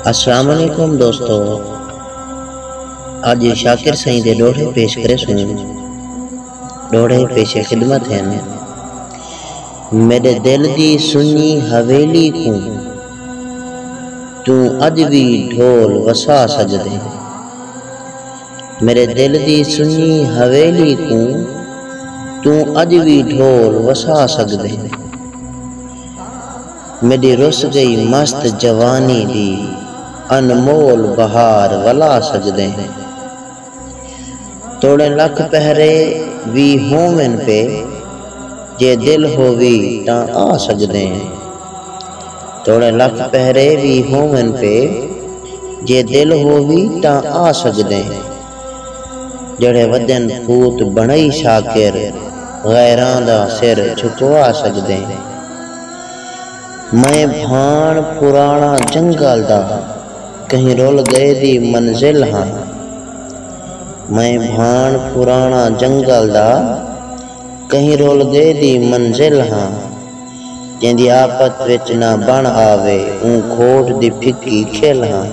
السلام علیکم دوستو اج شاکر سائیں دے ڈوہڑے پیش کرے سوں ڈوہڑے پیش خدمت ہیں میرے دل دی سنی حویلی کوں توں اج بھی ڈھول وسا سجدے میرے دل دی سنی حویلی کوں توں اج بھی ڈھول وسا سجدے میݙی رس ڳئی مست جوانی دی انمول بہار ولا سڳدیں توڑیں لکھ پہرے وی ہوون پے جے دل ہووی تاں آ سڳدیں توڑیں لکھ پہرے وی ہوون پے جے دل ہووی تاں آ سڳدیں۔ جیڑھے ودن پھوت بݨئی شاکر غیراں دا سر جھکوا سڳدیں میں بھاݨ پراݨا جنگل دا کہیں رل ڳئے دی منزل ہاں میں بھاݨ پراݨا جنگل دا کہیں رل ڳئے دی منزل ہاں جیندی آپت وچ نہ بݨ آوے اوں کھوٹ دی پھکی کھل ہاں۔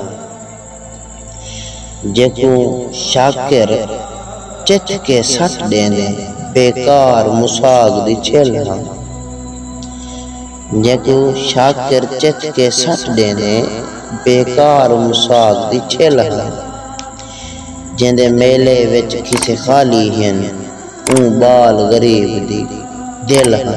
جیکوں شاکر چچ کے سٹ ݙیندے بیکار مساگ دی چھل ہا۔ جیکوں شاکر چچ کے سٹ ݙیندے بیکار مساگ دی چھل ہا۔ جیندے میلے وچ کھسے خالی ہن اوں ٻال غریب دی دل ہا۔